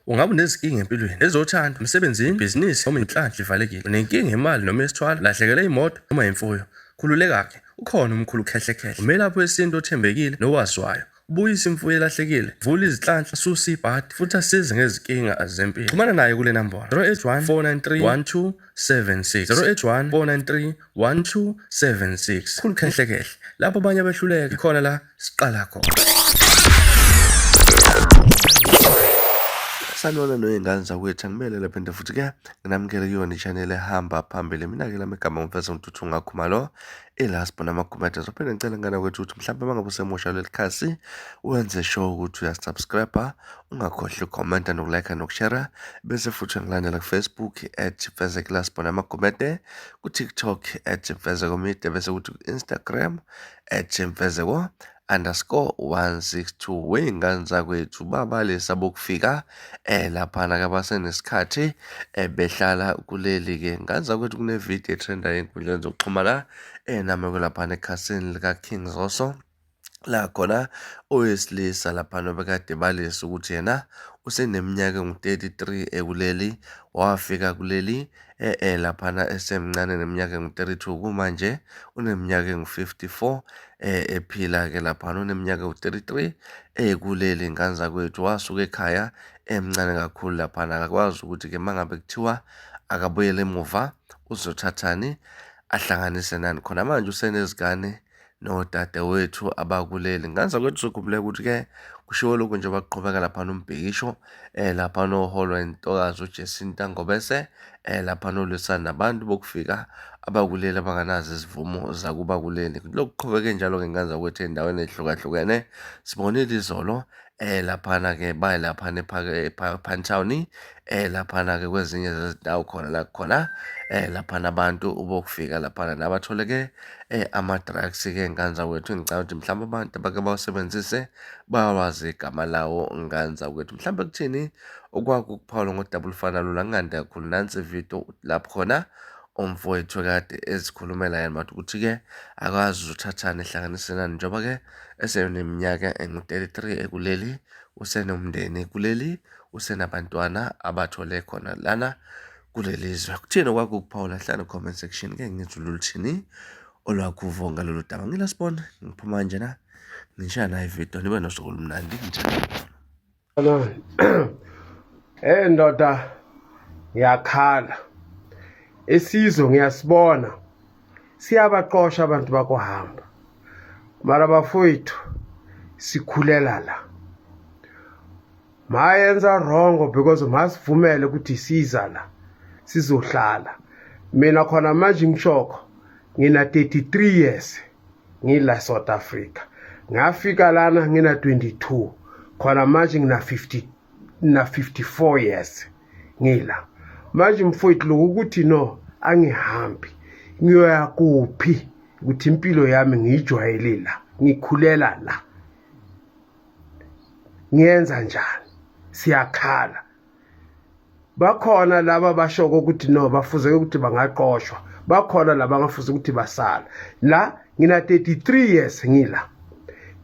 Ungabe unezinkinga empilweni, ezothando, emsebenzini, ibhizinisi noma inhlanhla ivalekile. Unenkinga yemali noma yesithwalo, lahlekelwe imoto noma imfuyo. Khululeka-ke, ukhona umkhulu uKhehlekhehle, umelaphi wesintu othembekile nowaziwayo. Ubuyisa imfuyo elahlekile, vula izinhlanhla, susa ibhadi futhi asize ngezinkinga zempilo. Xhumana naye kule nambolo 081 493 1276 081 493 1276 khulu khehle khehle lapho abanye abehluleka khona la siqala khona sanona noyengane zakwethu angimele lapha into futhi ke nginamukele kuyona i-channel ehamba phambili mina-ke lami igama ngumfesa ngithuthi ungakhuma lo ilast bona amakhumete zophinde ngicela ngana kwethu ukuthi mhlawumbe mangabe usemusha leli khasi wenze sure ukuthi uyasubscribe ungakhohlwa ukhomenta nokulike nokushera bese futhi ngilandela kufacebook at fezekilast bona amakhumete kuTikTok at Mfezeko Media bese kuthi ku-Instagram at Mfezeko underscore 162 wey'ngane zakwethu babalisa bokufika eh laphana ke basenesikhathi eh behlala kuleli ke ngane zakwethu kunevidiyo etrendayo ey'nkundleni zokuxhumana eh nami kwelaphana ekhasini lika-King Zoso La khona owesilisa laphana obekade balisa ukuthi yena useneminyaka engu-33 ekuleli wafika kuleli e-e laphana esemncane neminyaka engu-32 kumanje uneminyaka engu-54 eh ephila-ke laphana uneminyaka ewu-33 ekuleli ngane zakwethu wasuka ekhaya emncane kakhulu laphana akakwazi ukuthi-ke uma ngabe kuthiwa akabuyele emuva uzothathani ahlanganise nani khona manje usenezingane nodadewethu abakuleli ngenza kwethu sikhumbule ukuthi-ke kushiwo lokhu nje baqhubeka laphana umbhikisho um eh, laphana oholwa intokazi ujesinta ngobese um eh, laphana olwisana nabantu bokufika abakuleli abanganazo izivumo zakubakuleli lokhu qhubeke njalo-ke ngenza kwethu endaweni ezihlukahlukene sibonile izolo um eh laphana ke baye laphana ephantshawuni eh laphana ke kwezinye zezindawo khona la khona eh laphana abantu ubokufika laphana nabathole ke eh ama-drugs ke nganza wethu ngicabanga ukuthi mhlawumbe abantu abake bawusebenzise bawazi igama lawo nganza wethu mhlawumbe kuthini okwakukuphawula ngodaba olufana lula kungande kakhulu nansi ividiyo lapho khona umfowethu kade ezikhulumela yena but ukuthi-ke akwazi uzothathani ehlanganisenani njengoba-ke eseneminyaka engu-33 ekuleli usenomndeni kuleli usenabantwana abathole khona lana kuleli zwe kuthini okwakukuphawula hlala comment section ke ngizwe loluthini olwakuvo ngalolu daba ngilasibona ngiphuma nje na ngishaye nayo ividiyo nibe nosuku olumnandi ngitshela Hey ndoda ngiyakhala isizwe ngiyasibona siyabaqosha abantu bakohamba mara bafowethu sikhulela la mayenza wrong because masivumele ukuthi siza la sizohlala mina khona manje ngishoko ngina 33 years ngila south africa ngafika lana ngina 22 khona manje ngina 50 na 54 years ngila manje mfowethu lokhu ukuthi no angihambi ngiyoya kuphi ukuthi impilo yami ngiyijwayele la ngikhulela la ngiyenza njani siyakhala bakhona laba bashoko ukuthi no bafuzeke ukuthi bangaqoshwa bakhona laba ngafuza ukuthi basala la ngina 33 years ngila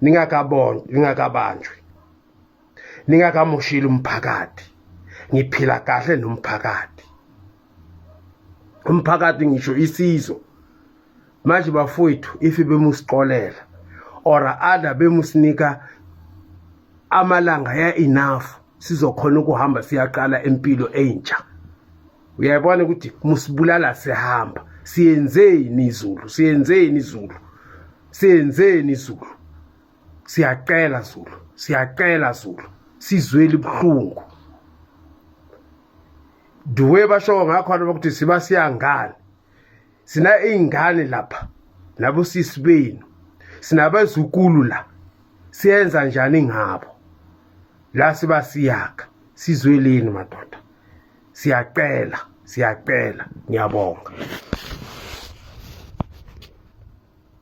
ningakabonjwa ningakabanjwe ningakamoshile umphakathi ngiphila kahle nomphakathi umphakathi ngisho isizwe manje bafowethu if bemusixolela or other bemusinika amalanga ya enough sizokhona ukuhamba siyaqala impilo entsha uyayibona ukuthi musibulala sihamba siyenzeni izulu siyenzeni izulu siyenzeni izulu siyacela zulu siyacela zulu sizweli buhlungu duwe basho ngakhona ukuthi siba siyangani sina iy'ngane lapha nabosisi benu sinabazukulu la siyenza njani ngabo la siba siyakha sizweleni madoda siyacela siyacela ngiyabonga